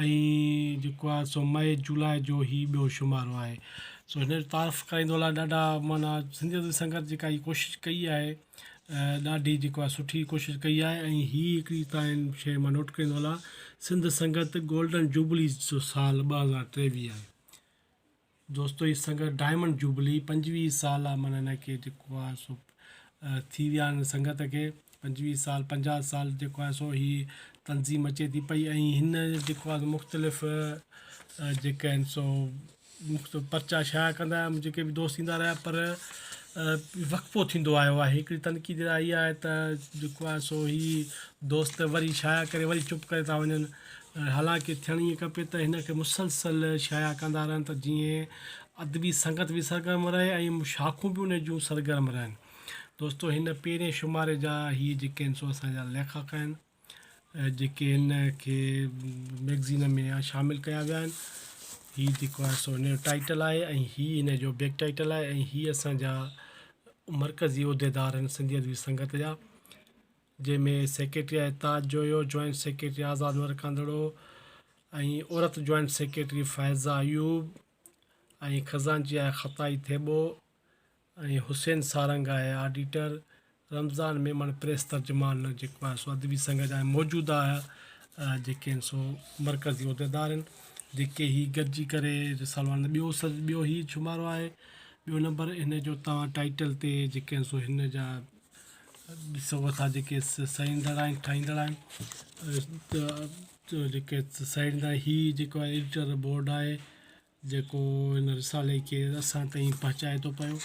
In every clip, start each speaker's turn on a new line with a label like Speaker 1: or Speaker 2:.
Speaker 1: ۽ جيڪو آهي سو مئي جولاء جو هي ٻيو شمارو آهي سو هن جو تعارف ڪرائيندو هلان ڏاڍا معنيٰ سنڌ جديد سنگت جيڪا هي ڪوشش ڪئي آهي ڏاڍي جيڪو آهي سٺي ڪوشش ڪئي آهي ۽ هي هڪڙي تاڻي شيء مان نوٽ ڪرائيندو هلان سنڌ سنگت گولڊن جوبليز جو سال ٻه هزار ٽيويهه آهي دوستو هي سنگت ڊائمنڊ جوبلي پنجويهه سال آ من هن کي جيڪو آ سو ٿي ويا آهن سنگت کي پنجويهه سال پنجاهه سال جيڪو آهي سو هي تنظيم اچي ٿي پئي ۽ هن جيڪو آهي مختلف جيڪا آهن سو مختلف پرچا شايع ڪندا آهيا جيڪي به دوست ٿيندا رهيا پر وقفو ٿيندو آيو آهي هڪڙي تنقيد اها آهي ته جيڪو آهي سو هي دوست وري شايع ڪري وري چپ ڪري ٿا وڃن حالانڪ ٿيڻ ائين کپي ته هن کي مسلسل شايع ڪندا رهن ته جيئن ادبي سنگت به سرگرم رهي ۽ شاخون به ان جون سرگرم رهن. دوستو هن پهرين شماري جا هي جيڪي آهن سو اسان جا ليکڪ آهن جيڪي هن کي ميگزين ۾ شامل ڪيا ويا آهن. هي جيڪو آهي سو هن جو ٽائيٽل آهي ۽ هي هن جو بيڪ ٽائيٽل آهي ۽ هي اسان جا مرڪزي عهديدار آهن سنڌي ادبي سنگت جا. جنهن ۾ سيڪريٽري آهي تاج جويو، جوائنٽ سيڪريٽري آزاد عمر ڪانڌڙو ۽ عورت جوائنٽ سيڪريٽري فائزه ايوب ۽ خزانچي آهي خطائي ٿيٻو ۽ حسين سارنگ آهي آڊيٽر، رمضان ميمڻ پريس ترجمان جيڪو آهي سو ادبي سنگهه جا موجوده جيڪي آهن سو مرڪزي عهديدار آهن جيڪي هي گڏجي ڪري رسالو آڻن ٻيو سر ٻيو هي شمارو آهي ٻيو نمبر هن جو تان ٽائيٽل تي جيڪي آهن سو هن جا ڏسو اسان جيڪي سهيندڙ آهن ٺاهيندڙ آهن جيڪي سهيڙيندا آهن هي جيڪو آهي ايڊيٽر بورڊ آهي جيڪو هن رسالي کي اسان تائين پهچائي ٿو پيو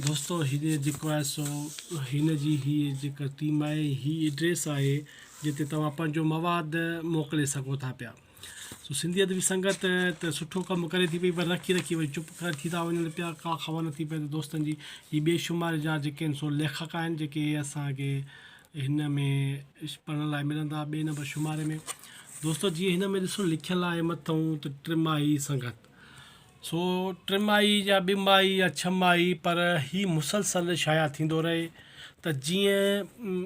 Speaker 1: دوستو هن جيڪو آهي سو هن جي هي جيڪا ٽيم آهي هي ايڊريس آهي جتي توهان پنهنجو مواد موڪلي سگهو ٿا پيا سو سنڌي ادبي سنگت ته سٺو ڪم ڪري ٿي پئي پر رکي رکي وري چپ ٿي ٿا وڃن پيا ڪا خبر نٿي پئي ته دوستن جي هي ٻئي شماري جا جيڪي آهن سو ليکڪ آهن جيڪي اسان کي هن ۾ پڙهڻ لاء ملندا ٻئي نمبر شماري ۾ دوستو جيئن هن ۾ ڏسو لکيل آهي مٿئون ته ٽماهي سنگت سو ٽماهي يا ٻي ماهي يا ڇهه ماهي پر هي مسلسل شايع ٿيندو رهي ته جيئن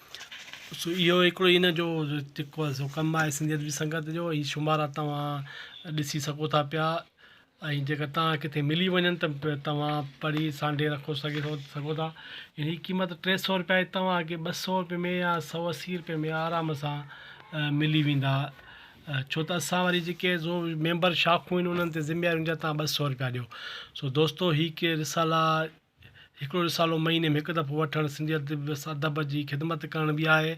Speaker 1: سو اهو هڪڙو هن جو جيڪو آهي سو ڪم آهي سنڌيت جي سنگت جو هي شمارا توهان ڏسي سگهو ٿا پيا ۽ جيڪر توهان کي ڪٿي ملي وڃن ته به توهان پڙهي سانڍي رکو سگهي ٿو سگهو ٿا ۽ هي قيمت ٽي سؤ رپيا جي توهان کي ٻه سؤ رپئي ۾ يا سؤ اسي رپئي ۾ آرام سان ملي ويندا ڇو ته اسان وري جيڪي زو ميمبر شاخون آهن انهن تي ذميواري هوندي آهي توهان ٻه سؤ رپيا ڏيو سو دوستو هي ڪي رسالا هڪڙو رسالو مهيني ۾ هڪ دفعو وٺڻ سنڌي ادب ادب جي خدمت ڪرڻ به آهي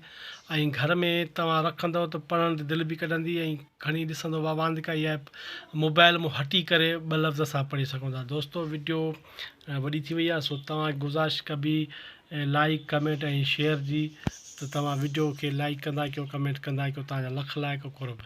Speaker 1: ۽ گهر ۾ توهان رکندو ته پڙهڻ تي دل به ڪڍندي ۽ کڻي ڏسندو واهه واهه ڪائي آهي موبائل مون هٽي ڪري ٻه لفظ اسان پڙهي سگهون ٿا دوستو وڊيو وڏي ٿي وئي آهي سو توهان گذارش ڪبي لائڪ ڪمينٽ ۽ شيئر جي ته توهان وڊيو کي لائڪ ڪندا ڪيو ڪمينٽ ڪندا ڪيو توهان جا لک لائق قرب